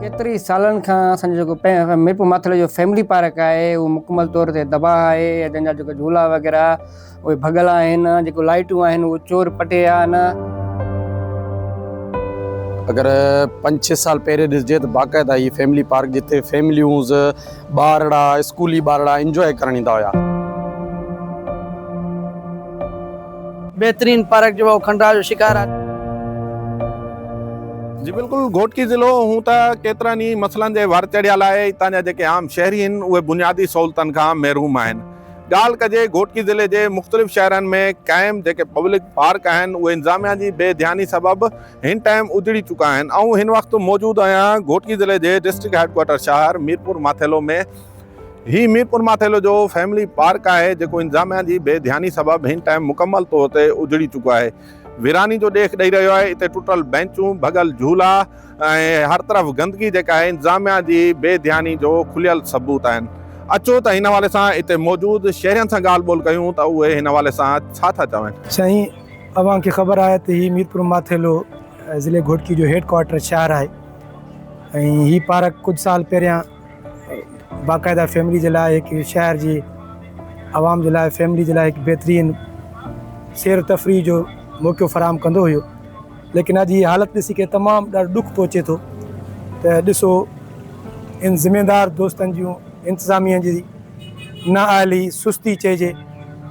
ڪيتري سالن کان اسان جو جيڪو ميرپور ماٿيلي جو فيملي پارڪ آهي اهو مڪمل طور تي تباهه آهي ۽ تنهن جا جيڪا جهولا وغيره اهي ڀڳل آهن جيڪو لائٽون آهن اهو چور پٽي آهن. اگر پنج ڇهه سال پهرين ڏسجي ته باقاعده هي فيملي پارڪ جتي فيمليونز ٻارڙا اسڪولي ٻارڙا انجوائي ڪرڻ ايندا هيا. بهترين پارڪ جو هو کنڊرا جو شڪار آ. جي بلڪل گهوٽڪي ضلعو هون ته ڪيترن ئي مسئلن جي ور چڙهيا لاء هتان جا جيڪي عام شهري هن اهي بنيادي سهولتن کان محروم آهن ڳالهه ڪجي گهوٽڪي ضلعي جي مختلف شهرن ۾ قائم جيڪي پبلڪ پارڪ آهن اهي انظاميا جي بي ڌياني سبب هن ٽائيم اجڙي چڪا آهن. آئون هن وقت موجود آهيان گهوٽڪي ضلعي جي ڊسٽرڪٽ هيڊ ڪوارٽر شهر ميرپور ماٿيلو ۾ هي ميرپور ماٿيلو جو فيملي پارڪ آهي جيڪو انتظاميا جي بي ڌياني سبب هن ٽائيم مڪمل طور تي اجڙي چڪو آهي ويراني جو ڏيک ڏئي رهيو آهي اتي ٽٽل بينچون ڀڳل جهولا ۽ هر طرف گندگي جيڪا آهي انتظاميا جي بي ڌياني جو کليل ثبوت آهن اچو ته هن حوالي سان اتي موجود شهرين سان ڳالهه ٻولهه ڪيون ته اهي هن حوالي سان ڇا ٿا چون. سائين اوهان کي خبر آهي ته هي ميرپور ماٿيلو ضلعي گهوٽڪي جو هيڊ ڪوارٽر شهر آهي ۽ هي پارڪ ڪجهه سال پهريان باقاعده فيملي جي لاء هڪ شهر جي عوام جي لاء فيملي جي لاء هڪ بهترين سير تفريح جو موقعو فراهم ڪندو هيو ليڪن اڄ هي حالت ڏسي ڪري تمام ڏاڍو ڏک پهچي ٿو ته ڏسو ان ذميدار دوستن جون انتظاميا جي نااهلي سستي چئجي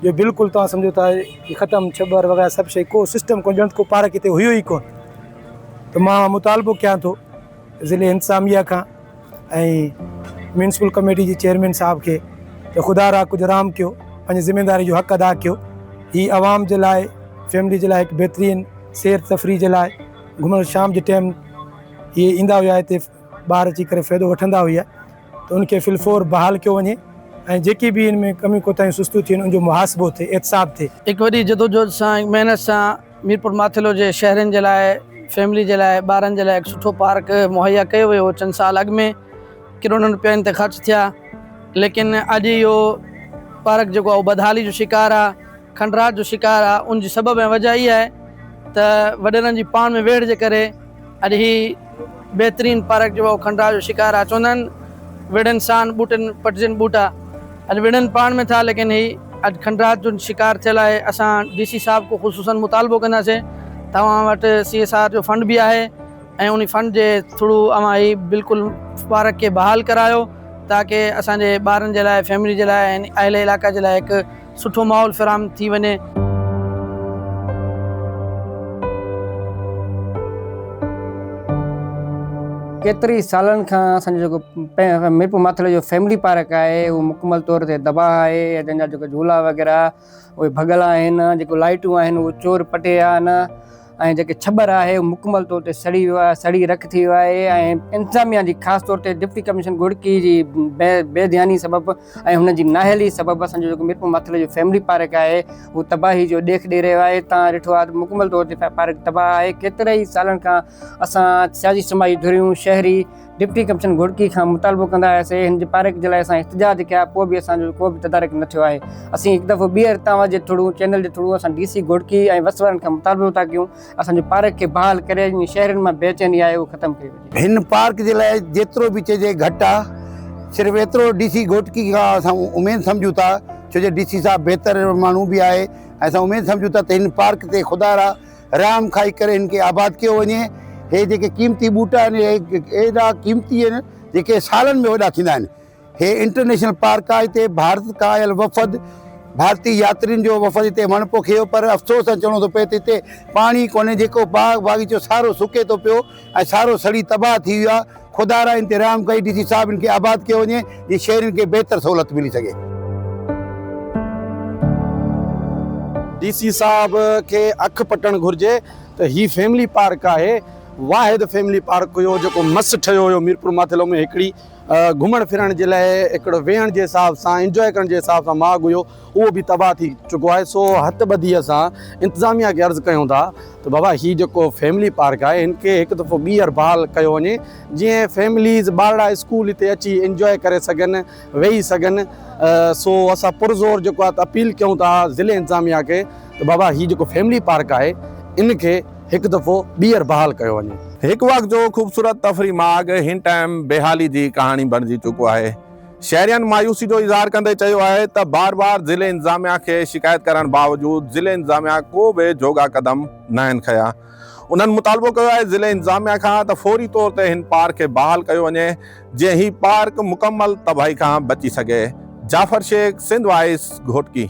جو بلڪل تون سمجهو ٿا ڪي ختم ڇٻر وغيره سڀ شيء ڪو سسٽم ڪونه ڄڻ ته ڪو پارڪ هتي هيو ئي ڪونه ته مان اهو مطالبو ڪيان ٿو ضلعي انتظاميه کان ۽ ميونسپل ڪميٽي جي چيئرمين صاحب کي ته خدا را ڪجهه رحم ڪيو پنهنجي ذميواري جو حق ادا ڪيو هي عوام جي لاء فيملي جي لاء هڪ بهترين سير تفريح جي لاء گهمڻ شام جي ٽيم هي ايندا هيا هتي ٻاهر اچي ڪري فائدو وٺندا هيا ته ان کي فلفور بحال ڪيو وڃي ۽ جيڪي به ان ۾ ڪميون ڪوتاهيون سستيون ٿين ان جو محاسبو ٿئي احتساب ٿئي. هڪ وڏي جدوجهد سان هڪ محنت سان ميرپور ماٿيلو جي شهرين جي لاء فيملي جي لاء ٻارن جي لاء هڪ سٺو پارڪ مهيا ڪيو ويو هو چند سال اڳ ۾ ڪروڙن روپيا ان تي خرچ ٿيا ليڪن اڄ اهو پارڪ جيڪو آهي اهو بدحالي جو شڪار آهي. کنڊرات جو شڪار آ ان جي سبب ۽ وجه اھا آھي ته وڏيرن جي پاڻ ۾ ويڙھ جي ڪري اڄ ھي بھترين پارڪ جو اھو کنڊرات جو شڪار آ چوندا آھن ويڙھن سان ٻوٽن پٽجن ٻوٽا اڄ ويڙھن پاڻ ۾ ٿا ليڪن ھي اڄ کنڊرات جو شڪار ٿيل آھي اسان ڊي سي صاحب کون خصوصن مطالبو ڪنداسين ته اوھان وٽ سي ايس آر جو فنڊ به آھي ۽ انھي فنڊ جي ٿرو اوھان ھي بلڪل پارڪ کي بحال ڪرايو تاڪه اسان جي ٻارن جي لاء فيملي جي لاء ۽ اھل علاقا جي لاء ھڪ سٺو ماحول فراهم ٿي وڃي. ڪيتري سالن کان اسان جو جيڪو ميرپور ماٿري جو فيملي پارڪ آهي اهو مڪمل طور تي تباهه آهي ۽ تنهن جا جيڪي جهولا وغيره اهي ڀڳل آهن جيڪو لائٽون آهن اهو چور پٽي آهن ۽ جيڪي ڇٻر آهي اهو مڪمل طور تي سڙي ويو آهي سڙي رک ٿي ويو آهي ۽ انتظاميا جي خاص طور تي ڊپٽي ڪمشنر گهوڙڪي جي بي ڌياني سبب ۽ هن جي نااهلي سبب اسان جو جيڪو ميرپور ماٿري جو فيملي پارڪ آهي اهو تباهي جو ڏيک ڏئي رهيو آهي تان ڏٺو آهي ته مڪمل طور تي پارڪ تباهه آهي ڪيترن ئي سالن کان اسان سياسي سماجي ڌريون شهري ڊپٽي ڪمشنر گهوڙڪي کان مطالبو ڪندا آياسي هن جي پارڪ جي لاء اسان احتجاج ڪيا پوء به اسان جو ڪو به تدارڪ نه ٿيو آهي اسين هڪ دفعو ٻيهر توهان جي ٿڙون چينل جي ٿڙون اسان ڊي سي گهوڙڪي ۽ وس وارن کان مطالبو ٿا ڪيون اسان جي پارڪ کي بحال ڪري جيئن شهرين مان بي چيني آهي اهو ختم ڪئي وڃي. هن پارڪ جي لاء جيترو به چئجي گهٽ آ صرف ايترو ڊي سي گهوٽڪي کان اسان اميد سمجهون ٿا ڇو جو ڊي سي صاحب بهتر ماڻهو به آهي ۽ اسان اميد سمجهون ٿا ته هن پارڪ تي خدارا رحم کائي ڪري هن کي آباد ڪيو وڃي هي جيڪي قيمتي ٻوٽا آهن هي ايڏا قيمتي آهن جيڪي سالن ۾ وڏا ٿيندا آهن هي انٽرنيشنل پارڪ آهي هتي ڀارت کان آيل وفد ڀارتي ياترين جو وفد هتي وڻ پوکيو پر افسوس سان چوڻو ٿو پئي ته هتي پاڻي ڪونهي جيڪو باغ باغيچو سارو سڪي ٿو پيو ۽ سارو سڙي تباهه ٿي ويو آهي خدا را انتي رحم ڪئي ڊي سي صاحب ان کي آباد ڪيو وڃي جي شهرين کي بهتر سهولت ملي سگهي. ڊي سي صاحب کي اک پٽڻ گهرجي ته هي فيملي پارڪ آهي واحد فيملي پارڪ هيو جيڪو مس ٺهيو هيو ميرپور ماٿيلو ۾ هڪڙي گهمڻ ڦرڻ جي لاء هڪڙو ويهڻ جي حساب سان انجوائي ڪرڻ جي حساب سان ماڳ هيو اهو به تباهه ٿي چڪو آهي سو هٿ ٻڌي اسان انتظاميا کي عرض ڪيون ٿا ته بابا هي جيڪو فيملي پارڪ آهي هن کي هڪ دفعو ٻيهر بحال ڪيو وڃي جيئن فيمليز ٻارڙا اسڪول هتي اچي انجوائي ڪري سگهن ويهي سگهن سو اسان پرزور جيڪو آهي اپيل ڪيون ٿا ضلعي انتظاميا کي ته بابا هي جيڪو فيملي پارڪ آهي ان کي هڪ دفعو ٻيهر بحال ڪيو وڃي. هڪ وقت جو خوبصورت تفريح ماڳ هن ٽائيم بيحالي جي ڪهاڻي بڻجي چڪو آهي. شهرين مايوسي جو اظهار ڪندي چيو آهي ته بار بار ضلعي انتظاميا کي شڪايت ڪرڻ باوجود ضلعي انتظاميا ڪو به جوڳا قدم ناهن کنيا انهن مطالبو ڪيو آهي ضلعي انتظاميا کان ته فوري طور تي هن پارڪ کي بحال ڪيو وڃي جيئن هي پارڪ مڪمل تباهي کان بچي سگهي جعفر شيخ سنڌ وائس گهوٽڪي.